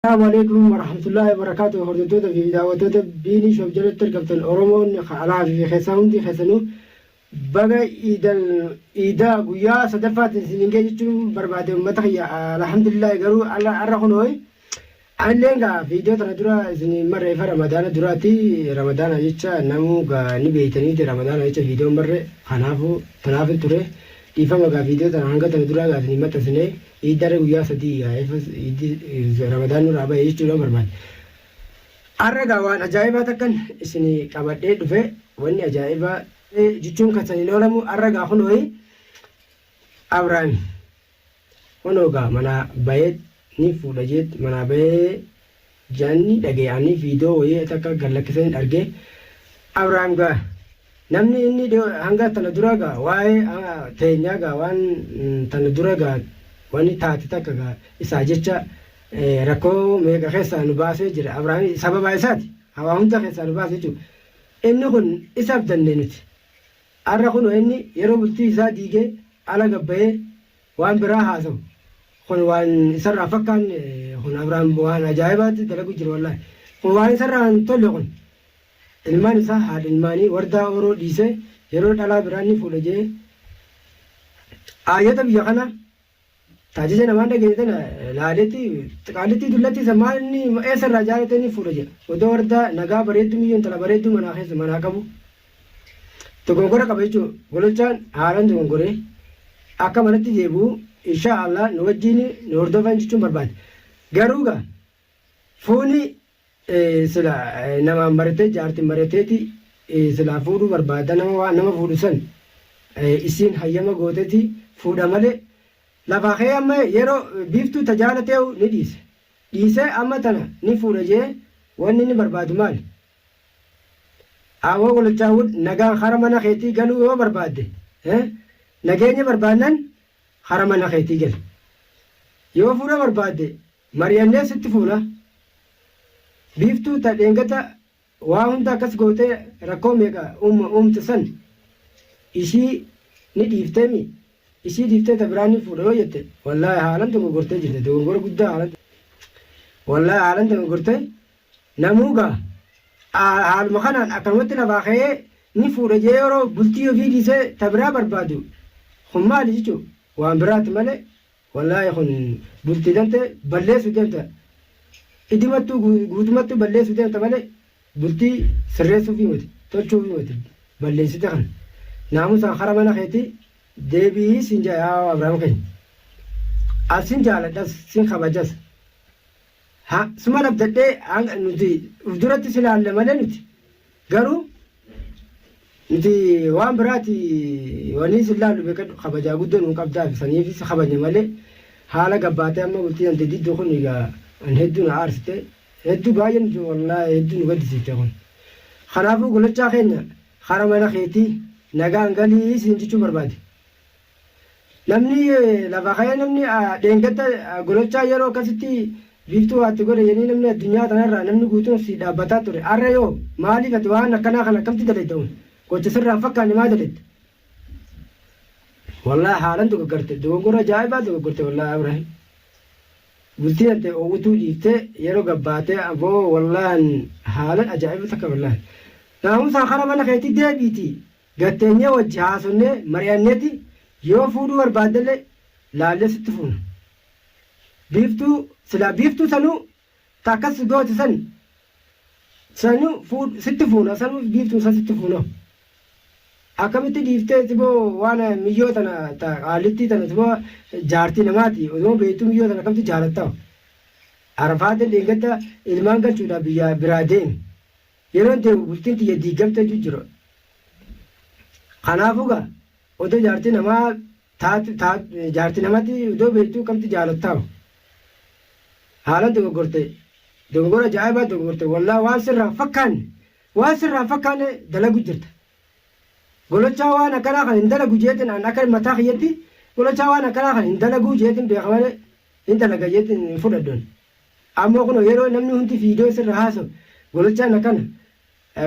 Assalaamu Aleeykum Warahmatullaahi Wabarakaatuh Hordoftoota fi Daawwattoota Biinii Shop jalatti argamtan Oromoon ka alaa fi keessaa hundi keessanuu baga Iidal Iidaa guyyaa sadaffaatiin isiniin ga'e jechuun barbaade uummata kiyya alhamdulillaahi garuu alla har'a kunooy anilleen gaa viidiyoo tana dura isiniin marre ifa ramadaana duraati ramadaana jecha namuu gaa ni beeytaniiti ramadaana jecha viidiyoon marre kanaafuu tanaafin ture Dhiifama egaa video tana hanga tana duraa gaa isin hin maxxansine iiddarra guyyaa sadii yaa efas iiddi ramadaan nurraa bahe jechuudhaan barbaade. Har'a gaa waan ajaa'ibaa takkan isin qabadhee dhufe wanni ajaa'ibaa jechuun kan san hin oolamu har'a gaa kunooyi Abrahaami. Kunoo gaa manaa bayeet nii fuudha jeetti manaa bayee jaanni dhagee anii viidoo woyii takka gad lakkisani dhargee Abraham gaa namni inni hanga tana dura gaa waa'ee teenyaa gaa waan tana dura gaa wani taate takka gaa isaa jecha rakkoo meeqa keessaa nu baasee jira Abraham sababaa isaati hawaa hunda keessaa nu baase jechuudha inni kun isaaf danne nuti Har'a kunoo inni yeroo bultii isaa diigee ala gad bahee waan biraa haasawu kun waan isarraa hin fakkaanne kun Abrahaam waan ajaa'ibaatti dalaguu jira wallaahi. Kun waan isarraa hin tolle kun. Ilmaan isaa haadha ilmaanii wardaa ooroo dhiisee yeroo dhalaa biraa ni fuudha jedhee aayata biyya kanaa. Taajaja namaa dhageene tana laaleeti qaallittii dullatti san maal inni eessa irraa jaalate inni fuudha jedha. Odoo warda nagaa bareedduu miyyoo intala bareedduu manaa keessa manaa qabu dogongora qaba jechuun gololchaan haalaan dogongoree akka manatti deebi'u inshaa Allah nu wajjiin nu hordofan jechuun barbaade. Garuu gaa fuuni Sila namaan marate jaarti marateeti silaa fuudhuu barbaada nama waan nama fuudhu san isiin hayyama gooteti fuudha male lafaa ka'ee amma yero biiftuu ta jaalateehu ni dhiise dhiisee amma tana ni fuudha jee wanni inni barbaadu maali Aawoo gololchaa wood nagaan kara mana keetii galuu yoo barbaadde nageenya barbaannan kara mana keetii gali yoo fuudha barbaadde Mariyannee sitti fuuna. Biiftuu ta dheengata waa hunda akkas gootee rakkoo meeqa uumte san ishii ni dhiiftee mii? Ishii dhiiftee ta biraa nin fuudha yoo jette wallaahi haalan dogoggortee jirta dogoggora guddaa haalan wallaahi haalan dogoggorte namuu gaa haaluma kanaan akkanumatti lafaa ka'ee nin fuudha jedhee yeroo bultii ofii dhiisee ta biraa barbaadu kun maali jechuun waan biraati malee Wallaahi kun bultii tante balleessu deemta idimattuu guutumattuu balleessu deemta malee bultii sirreessuufii miti tolchuufii miti balleessite kan naamusaan hara mana keetii deebi'ii siin jedha yaa Abrahaam keenya as sin jaaladhas sin kabajas Haa suman abdadhee hanga nuti uf duratti si laalla malee nuti garuu nuti waan biraati wanii si laallu beekadhu kabajaa guddoo nuu qabdaa fi saniif si kabajne malee haala gabbaatee amma bultii dante diddoo kun egaa an hedduu na aarsite hedduu baay'ee nuti wallaahi hedduu nu gaddisiifte kun kanaafuu golachaa keenya kara mana keetii nagaan galii siin jechuu barbaade. Namni lafa ka'ee namni dheengadda gololchaa yeroo akkasitti biiftuu waa itti godhe jedhanii namni addunyaa tanarraa namni guutuun si dhaabbataa ture arra yoo maaliif ati waan akkanaa kana akkamti dalayda un gocha sirraa hin fakkaanne maa dalayda wallaahi haalan dogoggarte dogoggora ajaa'ibaa dogoggorte wallaahi abraahim bultii tante oowwituu dhiifte yeroo gabbaatee aboo wallaahi haalan ajaa'iba takka wallaahi naamusaa kara mana keetii deebiiti Gad teenyee wajji haasofnee mari'anneeti yoo fuudhuu barbaaddelle laallee sitti fuuna. Biiftuu silaa Biiftuu sanuu ta akkas si goote san sanuu fuudh sitti fuuna sanuu Biiftuun san sitti fuuna. Akkamitti dhiiftee siboo waan miyyoo tana ta qaallittii tana siboo jaartii namaati odoo beektuu miyyoo tana akkamitti jaalatta. Arafaatiin dheengadda ilmaan galchuudhaaf biyyaa biraa deeme. Yeroon deemu bultiin tiyya diiggamteetu jira. Kanaafuu gaa odoo jaartii namaa taatu taatu jaartii namatti odoo beektuu kamtu jaalattaam. Haalan dogoggorte dogoggora ajaa'ibaa dogoggorte wallaa waan sirraa hin fakkaanne waan sirraa hin fakkaanne dalagu jirta. Golochaa waan akkanaa kan hin dalagu jeetin an akka mataa kiyyatti golochaa waan akkanaa kan hin dalaguu jeetin beeka malee Hin dalaga jette hin fudhadhu ani. Ammoo kunoo yeroo namni hundi viidiyoo sirra haasawu gololchaan akkana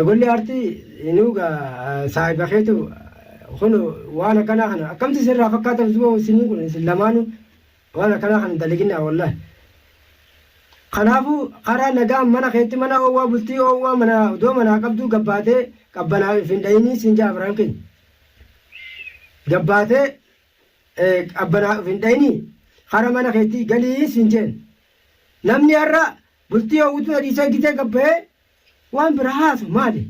golli aartii inuu gaa saahiba keetu kunoo waan akkanaa kana akkamti sirraa fakkaata usboo isinii kun isin lamaanuu waan akkanaa kana hin dalaginaa wallahi. Kanaafuu karaa nagaan mana keetti mana oowwaa bultii oowwaa mana odoo manaa qabduu gabbaatee qabbanaa if hin dhayinii siin jedha abraan keenya. Gabbaatee qabbanaa of hin dhayinii hara mana keetii galii siin jeen namni har'a bultii hawwituu hadiisee gitee gabbayee waan bira haasu maali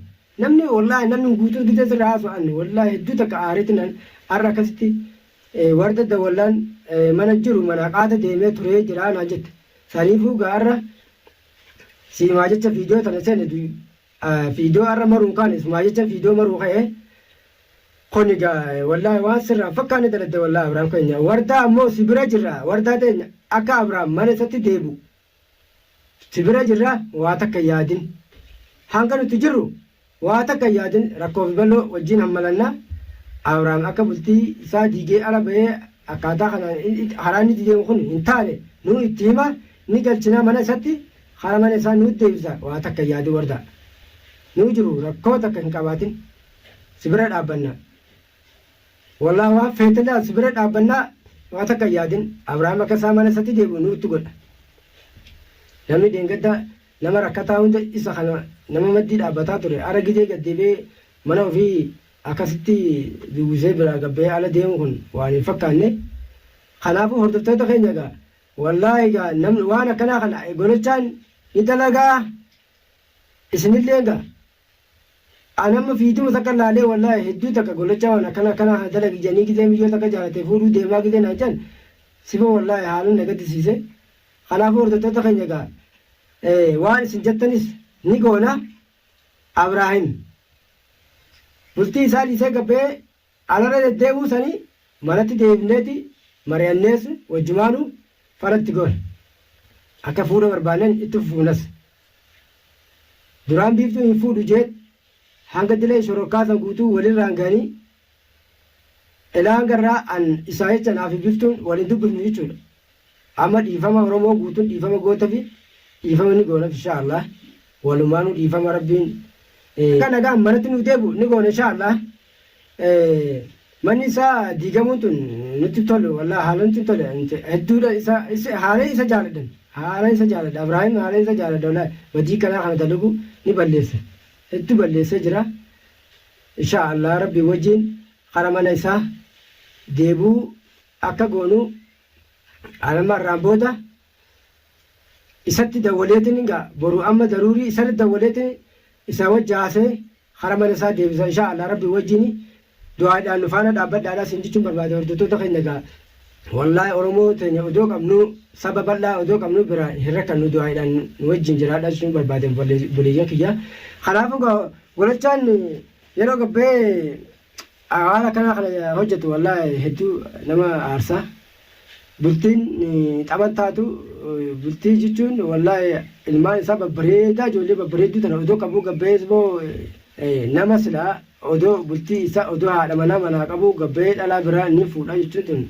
namni wallaahi namni guutuu gitee sirra haasu anni wallaahi hedduu takka aaritti nan har'a akkasitti warda dawallaan mana jiru mana qaata deemee turee jiraa naan jette saniifuu gaarra siimaa jecha viidiyoo tana seene Fiidoo arra maruu kaan isumaa jecha fiidoo maruu ka'e kun egaa wallaahi waan sirraa fakkaanne dalagde wallaahi Abrahaam keenya wardaa ammoo si bira jirra wardaa teenya akka Abrahaam mana isatti deebi'u si bira jirra waa takka yaadin hanga nuti jirru waa takka yaadin rakkoo fi bal'oo wajjin hammalanna Abrahaam akka bultii isaa diigee ala ba'ee akkaataa kanaan karaa inni deemu kun hin taane nuu itti hima ni galchina mana isatti Haa mana isaa nuut deebisaa waa takka hin yaadin wardaa. Nuu jiruu rakkoo takka hin qabaatin si bira dhaabbannaa. Wallaah waan feete laal si bira dhaabbannaa waa takka hin yaadin Abrahaam akka isaa mana isati deebi'u nuutti godha. Namni dheengadda nama rakkataa hunda isa kana nama maddii dhaabbataa ture ara gizee gad deebi'ee mana ofii akkasitti duuguusee biraa gad bahee ala deemu kun waan hin fakkaanne. Kanaafuu hordoftoota keenya egaa Wallahi egaa namni waan akkanaa kana gorachaan ni dalagaa isinillee egaa an amma fiiduma takka laalee wallahi hedduu takka gorachaa waan akkana akkanaa kana dalagi jedhanii gizee miyyoo takka jaalatee fuudhuu deemaa gizee naan jedhan sifa wallahi haalan na gaddisiise kanaafuu hordoftoota keenya egaa waan isin jettanis ni goona Abraahim bultii isaa dhiisee gabbee Ala irra deddeebi'uu sanii manatti deebifneeti mari'annees wajjumaanu fala itti goona. Akka fuudha barbaannen itti fufnas. Duraan Biiftuun hin fuudhu jeet hanga dileen shororkaa san guutuu wal irraan gahanii Elaan garraa an isaa jecha anaa fi Biftuun wal hin dubbifnu jechuudha. Amma dhiifama oromoo guutun dhiifama gootafi dhiifama ni goonaf inshaa Allah walumaanu dhiifama rabbiin akka nagaan manatti nuuf deebi'u ni goona inshaa Allah manni isaa diigamuun tun nutti tolu wallah haala nutti tole hedduudha isa isa haala isa jaaladhan haala isa jaaladha Ibrahim haala isa jaaladha wallah badii kanaa kana dalagu ni balleessa hedduu balleessee jira inshaa Allah rabbi wajjin hara mana isaa deebuu akka goonuu An amma har'aan booda isatti dawwaleetiin gaa boru amma daruurii isarratti dawwaleetiin isaa wajji haasa'ee hara mana isaa deebisa inshaa Allah rabbii wajjiin du'aadhaan nu faana dhaabbadhaadhaa siin jechuun barbaada hordoftoota keenya gaa wallaahi oromoo teenya odoo qabnuu saba bal'aa odoo qabnuu bira hin rakkannu du'aadhaan nu wajjiin jiraadhaa jechuun barbaada obboleeyyan kiyya kanaafuu gaa golachaan yeroo gabbee A waan akkanaa kana hojjatu wallaahi hedduu nama aarsa. Bultiin xaban taatu bultii jechuun wallaahi ilmaan isaa babbareedaa ijoollee babbareedduu tana odoo qabuu gabbayees boo nama silaa odoo bultii isaa odoo haadha manaa manaa qabuu gabbayee dhalaa biraa ni fuudha jechuun tun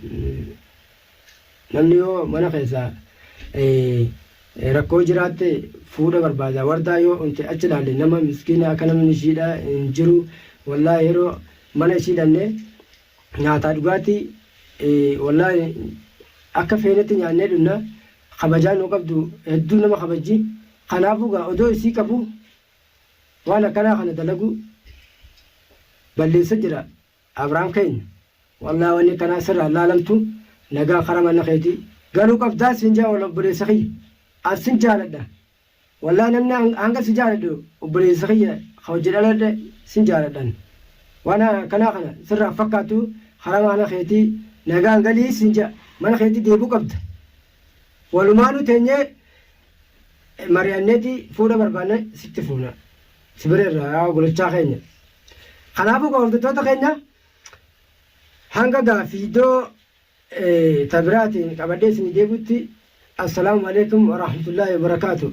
Namni yoo mana keessa rakkoo jiraatte fuudha barbaada wardaa yoo unte achi laalle nama miskiina akka namni ishiidha hin jiru wallaa yeroo mana ishii dhanne nyaataa dhugaatti wallaa akka feenetti nyaannee dhunna kabajaa nu qabdu hedduu nama kabajji kanaafuu gaa odoo isii qabu waan akkanaa kana dalagu balleessa jira Abraham keenya wallah wanni akkanaa sirraa hin laalamtu nagaan kara mana keetii galuu qabdaa siin jedha wallah obboleessa kiyya an sin jaaladha wallah namni hanga si jaaladhu obboleessa kiyya ka wajji dhaladhe sin jaaladhan waan akkanaa kana sirraa hin fakkaatu kara mana keetii nagaan galii siin jedha mana keetii deebuu qabda walumaanuu teenyee mari'anneeti fuudha barbaanna sitti fuuna si bira irraa golochaa keenya. Kanaafuu gaa hordoftoota keenya hanga gaaffii iddoo tabiraatiin qabadhee isinii deebi'utti assalaamu alaikum warahmatullaahi wabarakaatu.